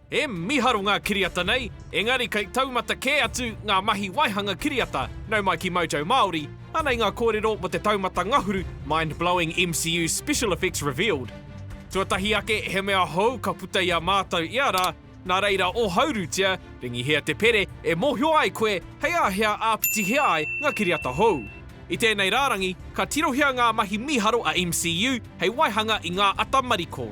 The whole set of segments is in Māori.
He miharo ngā kiriata nei, engari kei taumata kē atu ngā mahi waihanga kiriata, nau mai ki Mojo Māori, anei ngā kōrero mō te taumata ngahuru Mind Blowing MCU Special Effects Revealed. Tuatahi ake he mea hou ka puta i a mātou ia rā, nā reira ohaurutia, ringihia te pere e mōhio ai koe hei a hea āpitihia ai ngā kiriata hou. I tēnei rārangi, ka tirohia ngā mahi mīharo a MCU hei waihanga i ngā ata mariko.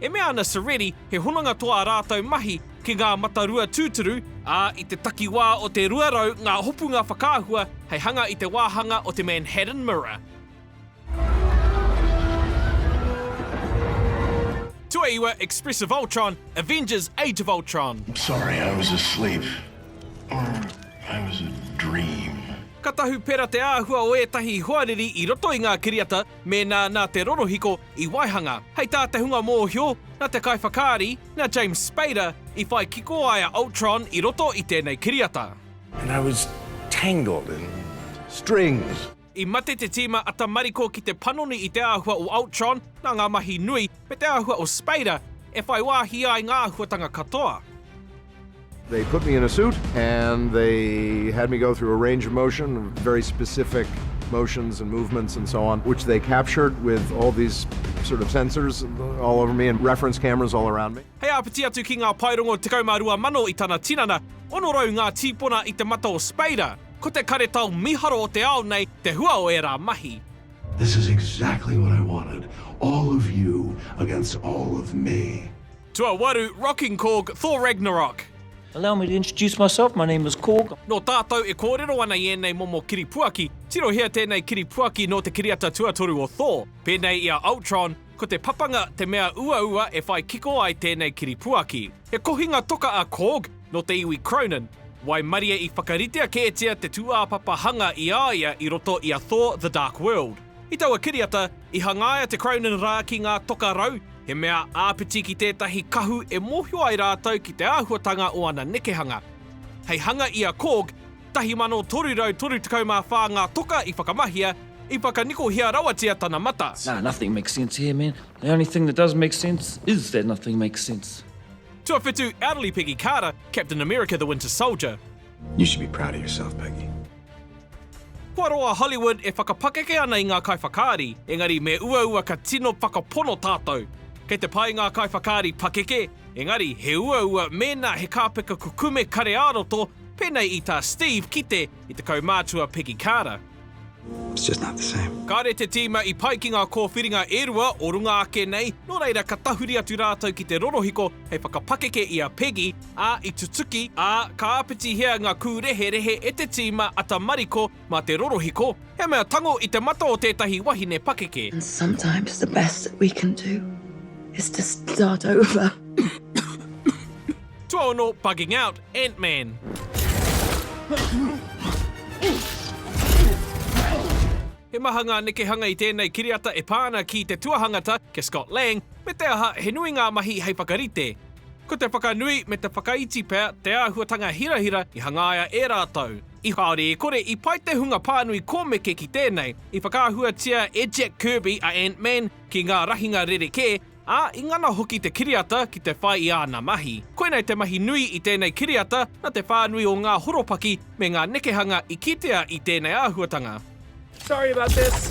E mea ana Seredi he hononga toa a rātou mahi ki ngā matarua tūturu, ā, i te takiwā o te 200 ngā hopunga whakaahua hei hanga i te wāhanga o te Manhattan Mirror. Tuaiwa, Express of Ultron, Avengers, Age of Ultron. I'm sorry I was asleep. Or I was a dream. Ka tahupera te āhua o ētahi hoariri i roto i ngā kiriata, Mēnā nā te rorohiko i waihanga, hei tā te hunga mōhio, nā te kaiwhakaari, nā James Spader, i whai kiko ai a Ultron i roto i tēnei kiriata. And I was tangled in strings. I mate te tīma a tamariko ki te panoni i te āhua o Ultron nā ngā mahi nui me te āhua o Spader e whai wāhi ai ngā āhuatanga katoa. They put me in a suit and they had me go through a range of motion, very specific motions and movements and so on, which they captured with all these sort of sensors all over me and reference cameras all around me. Hei āpiti atu ki ngā paerongo 12,000 i tana tinana, 600 ngā tīpona i te mata o Spader, ko te karetao mīharo o te ao nei te hua o ērā mahi. This is exactly what I wanted, all of you against all of me. Tuawaru, Rocking Korg, Thor Ragnarok. Allow me to introduce myself, my name is Korg. Nō tātou e kōrero ana i ēnei momo kiripuaki, tirohia tēnei kiripuaki nō te kiriata tuatoru o Thor, pēnei i a Ultron, ko te papanga te mea uaua e whai kiko ai tēnei kiripuaki. He kohinga toka a Korg, nō te iwi Kronan, waimarie i whakaritea kētia te tūāpapa hanga i a ia i roto i a Thor The Dark World. I taua kiriata, i hangaia te Cronin rā ki ngā toka rau, he mea āpiti ki tētahi kahu e mōhio ai rātou ki te āhuatanga o ana nekehanga. Hei hanga i a Korg, 1,334 ngā toka i whakamahia, i whakanikohia rawatia tana mata. Nah, nothing makes sense here, man. The only thing that does make sense is that nothing makes sense. Tuawhitu, Elderly Peggy Carter, Captain America, The Winter Soldier. You should be proud of yourself, Peggy. Kua roa Hollywood e whakapakeke ana i ngā kaiwhakaari, engari me uaua ka tino whakapono tātou. Kei te pai ngā kaiwhakaari pakeke, engari he uaua mēnā he kāpeka kukume kare ā-roto, pēnei i tā Steve ki te i te kaumātua Peggy Carter. It's just not the same. Kāre te tīma i pai ki ngā kōwhiringa e rua o runga ake nei, nō reira ka tahuri atu rātou ki te rorohiko hei whakapakeke i a Peggy ā, i tutuki, ā, ka āpitihia ngā kūreherehe e te tīma a tamariko mā te rorohiko, he mea tango i te mata o tētahi wahine pakeke. And sometimes the best that we can do is to start over. Tuaono bugging out, Ant-Man. He maha ngā nekehanga i tēnei kiriata e pā ana ki te tuahangata, kia Scott Lang, me te aha, he nui ngā mahi hei whakarite. Ko te whakanui me te whakaiti pea te āhuatanga hirahira i hangaia e rātou. I haere e kore i pai te hunga pānui kōmeke ki tēnei, i whakaahuatia e Jack Kirby a Ant-Man ki ngā rahinga rerekē, ā, i ngana hoki te kiriata ki te whai i āna mahi. Koinei te mahi nui i tēnei kiriata nā te whānui o ngā horopaki me ngā nekehanga i kitea i tēnei āhuatanga. Sorry about this.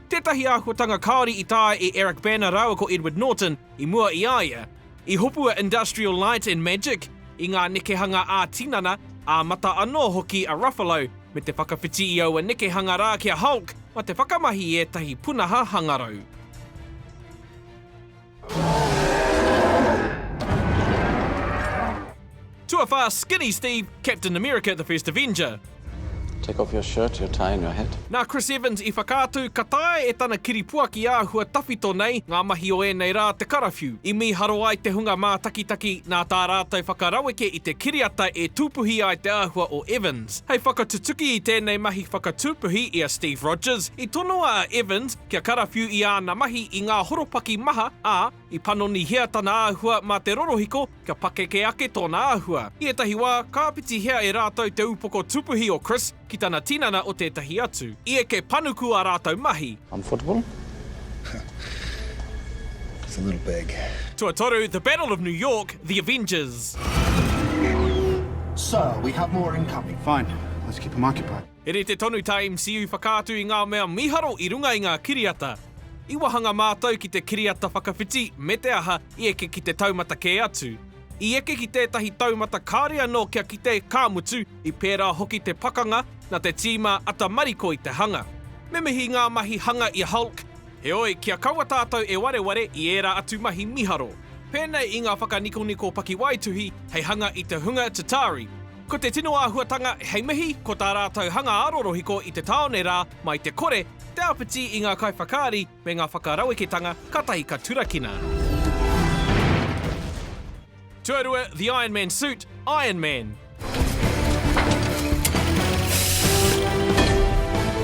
Tētahi āhuatanga kāore i taea e Eric Bana rāua ko Edward Norton i mua i a ia. I hopu a Industrial Light and Magic i ngā nekehanga ā-tinana, ā-mata anō hoki a Ruffalo, me te whakawhiti i aua nekehanga rā ki a Hulk mā te whakamahi i ētahi punaha hangarau. Tuawhā, Skinny Steve, Captain America the First Avenger. Take off your shirt, your tie and your hat. Nā Chris Evans i whakaatu ka taea e tana kiripuaki āhua tawhito nei ngā mahi o ēnei rā te karawhiu. I mīharo ai te hunga mātakitaki nā tā rātou whakaraweke i te kiriata e tūpuhi ai te āhua o Evans. Hei whakatutuki i tēnei mahi whakatūpuhi i a Steve Rogers, i tonoa a Evans, kia karawhiu i āna mahi i ngā horopaki maha, ā, i panonihia tana āhua mā te rorohiko kia pakeke ake tōna āhua. I ētahi wā, ka āpitihia e rātou te upoko tupuhi o Chris ki tana tinana o tētahi atu. I eke panuku ā rātou mahi. I'm footable? It's a little big. Tuatoru, The Battle of New York, The Avengers. Sir, we have more incoming. Fine, let's keep them occupied. He rite tonu tā MCU whakaatu i ngā mea mīharo i runga i ngā kiriata. I wahanga mātou ki te kiriata whakawhiti me te aha i eke ki te taumata kē atu. I eke ki tētahi taumata kāore anō kia kite, ka mutu, i pērā hoki te pakanga, nā te tīma ata mariko i te hanga. Me mihi ngā mahi hanga i a Hulk, heoi, kia kaua tātou e wareware i ērā atu mahi mīharo. Pēnei i ngā whakanikoniko pakiwaituhi hei hanga i te hunga Chitauri. Ko te tino āhuatanga hei mihi, ko tā rātou hanga aro rohiko i te tāone rā, mai te kore, te āpiti i ngā kaiwhakaari me ngā whakaraweketanga kātahi ka turakina. Tuarua, The Iron Man Suit, Iron Man.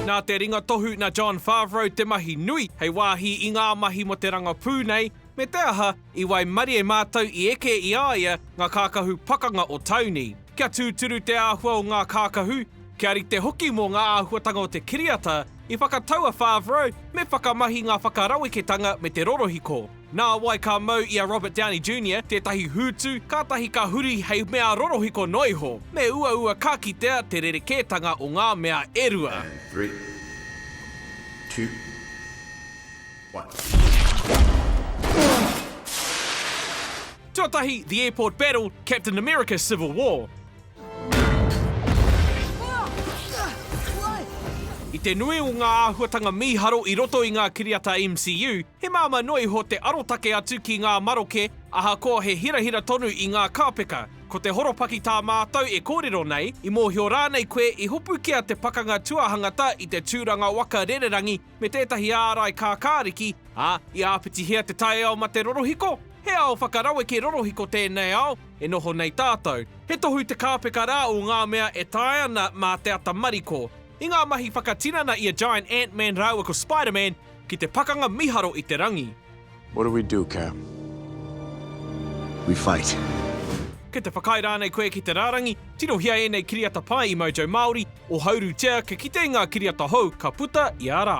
Nā te ringa tohu nā Jon Favreau te mahi nui hei wāhi i ngā mahi mō te rangapū nei, Me te aha, i waimarie mātou i eke i a ia ngā kākahu pakanga o Tauni. Kia tūturu te āhua o ngā kākahu, kia rite hoki mō ngā āhuatanga o te kiriata, i whakatau a Favreau me whakamahi ngā whakaraweketanga me te rorohiko. Nā wai ka mau i a Robert Downey Junior tētahi hūtu kātahi ka huri hei mea rorohiko noa iho? Me uaua ka kitea te rerekētanga o ngā mea e rua. And three, two. Tuatahi, The Airport Battle, Captain America Civil War. I te nui o ngā āhuatanga mīharo i roto i ngā kiriata MCU, he māmā noa iho te arotake atu ki ngā maroke ahakoa he hirahira tonu i ngā kāpeka. Ko te horopaki tā mātou e kōrero nei, i mōhio rānei koe i hopukia te pakanga tuahangata i te tūranga waka rererangi me tētahi ārai kākāriki, ā, i āpitihia te taiao mate rorohiko, he ao whakaraweke rorohiko tēnei ao e noho nei tātou. He tohu te kāpeka rā o ngā mea e taea ana mā te ata mariko. I ngā mahi whakatinana i a Giant Ant-Man rāua ko Spider-Man ki te pakanga mīharo i te rangi. What do we do, Cap? We fight. Kei te whakaae rānei koe ki te rārangi? Tirohia ēnei kiriata pai i Mojo Māori, ohaurutia kia kite i ngā kiriata hou ka puta ia rā.